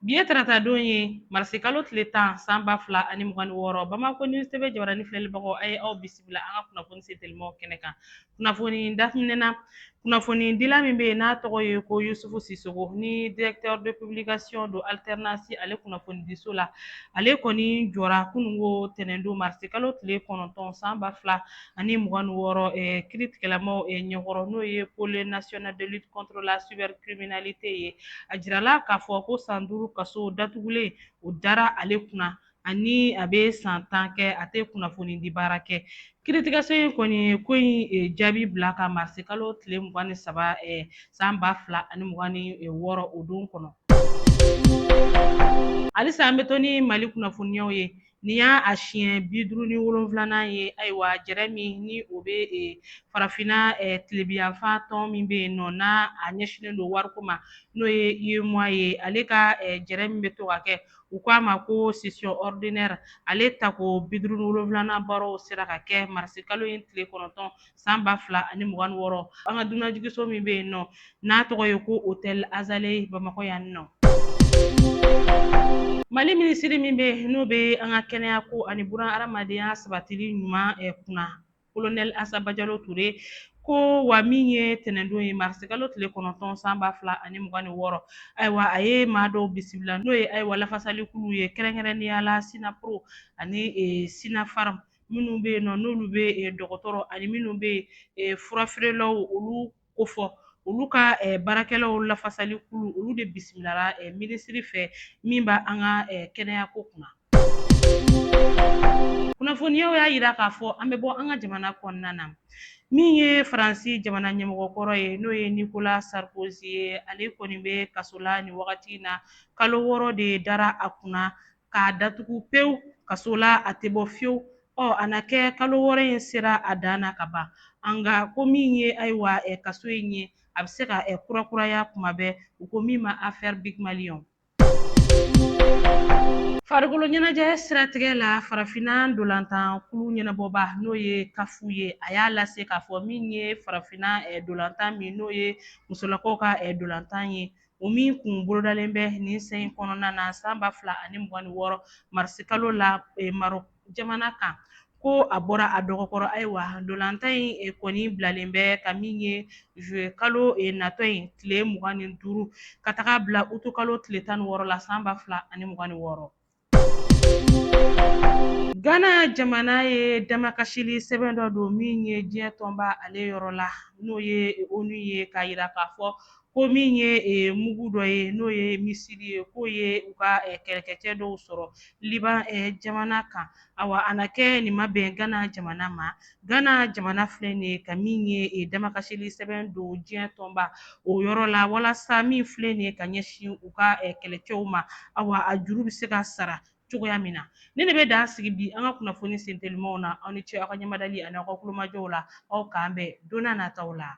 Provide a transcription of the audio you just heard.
Bi ye taratadon ye marisikalo tile tan san ba fila ani mugan ni wɔɔrɔ bamakɔ News TV jabaranin filɛlibagaw a ye aw bisimila an ka kunnafoni se telimaw kɛnɛ kan kunnafoni daminɛna kunnafonidila min bɛ yen n'a tɔgɔ ye ko Yusufu Sisoko ni directeur de publication don Alternance ale kunnafonidiso la ale kɔni jɔra kununko ntɛnɛndon marisikalo tile kɔnɔntɔn san ba fila ani mugan ni wɔɔrɔ kiritigɛlamaw ɲɛkɔrɔ n'o ye pôle national de lutte contre la cybercriminalité ye a jirala k'a fɔ ko san duuru kaso datugulen o dara ale kunna ani a bɛ san tan kɛ a tɛ kunnafoni di baara kɛ kiritigɛso in kɔni ye ko in jaabi bila ka marisikalo tile mugan ni saba san ba fila ani mugan ni wɔɔrɔ o don kɔnɔ halisa an bɛ to ni mali kunnafoniyaw ye Nin y'a siɲɛ bi duuru ni wolonwulanan ye ayiwa jɛrɛ min ni o bɛ farafinna tilebiyanfan tɔn min bɛ yen nɔ n'a a ɲɛsinnen don wariko ma n'o ye UEMOA ye ale ka jɛrɛ min bɛ to ka kɛ u k'a ma ko session ordinaire ale tako bi duuru ni wolonwulanan baaraw sera ka kɛ marisikalo in tile kɔnɔntɔn san ba fila ani mugan ni wɔɔrɔ an ka dunanjigiso min bɛ yen nɔ n'a tɔgɔ ye ko hôtel Azalaï bamakɔ yan nɔ mali minisiri min bɛ n'o bɛ an ka kɛnɛyako ani buran hadamadenya sabatili ɲuman eh, kunna kolonɛli Asa Bajalo Ture ko wa min ye tɛnɛndon ye marisikalo tile kɔnɔntɔn san ba fila ani mugan ni wɔɔrɔ ayiwa a ye maa dɔw bisimila n'o ye ayiwa lafasalikulu ye kɛrɛnkɛrɛnnenya la sinapro ani eh, sinafarm minnu bɛ yen nɔ n'olu bɛ dɔgɔtɔrɔ ani minnu bɛ furafeerelaw olu ko fɔ olu ka baarakɛlaw lafasalikulu olu de bisimilala minisiri fɛ min b'an ka kɛnɛyako kunna kunnafoniyaw y'a yira k'a fɔ an bɛ bɔ an ka jamana kɔnɔna na min ye faransi jamana ɲɛmɔgɔ kɔrɔ ye n'o ye Nicolas Sarkozy ye ale kɔni bɛ kaso la nin wagati in na kalo wɔɔrɔ de dara a kunna k'a datugu pewu kaso la a tɛ bɔ fewu ɔ a na kɛ kalo wɔɔrɔ in sera a dan na ka ban nka ko min ye ayiwa kaso in ye a bɛ se ka kurakuraya kuma bɛ u ko min ma affaire Bygmalion farikolo ɲɛnajɛ siratigɛ la farafinna dolantan kulu ɲɛnabɔba n'o ye CAF ye a y'a lase k'a fɔ min ye farafinna eh, dolantan min n'o ye musolakaw ka eh, dolantan ye o min kun bolodalen bɛ nin sen in kɔnɔna na san ba fila ani mugan ni wɔɔrɔ marisikalo la eh, Maroc jamana kan ko a bɔra a dɔgɔ kɔrɔ ayiwa dolantan in eh, kɔni bilalen bɛ ka min ye juyekalo eh, natɔ in tile mugan ni duuru ka taga bila utukalo tile tan ni wɔɔrɔ la san ba fila ani mugan ni wɔɔrɔ Gana jamana ye damakasili sɛbɛn dɔ don min ye diɲɛ tɔnba ale yɔrɔ la n'o ye ONU ye k'a yira k'a fɔ ko min ye mugu dɔ ye n'o ye misili ye k'o ye u ka kɛlɛkɛcɛ dɔw sɔrɔ Liban jamana kan awa a na kɛ nin ma bɛn gana jamana ma Gana jamana filɛ nin ye ka min ye e damakasili sɛbɛn don diɲɛ tɔnba o yɔrɔ la walasa min filɛ nin ye ka ɲɛsin u ka eh, kɛlɛcɛw ma awa a juru bɛ se ka sara cogoya min na ne de bɛ dan sigi bi an ka kunnafoni sentelimaw na aw ni ce aw ka ɲɛmadali ani aw ka kulomajɔw la aw k'an bɛn don na nataw la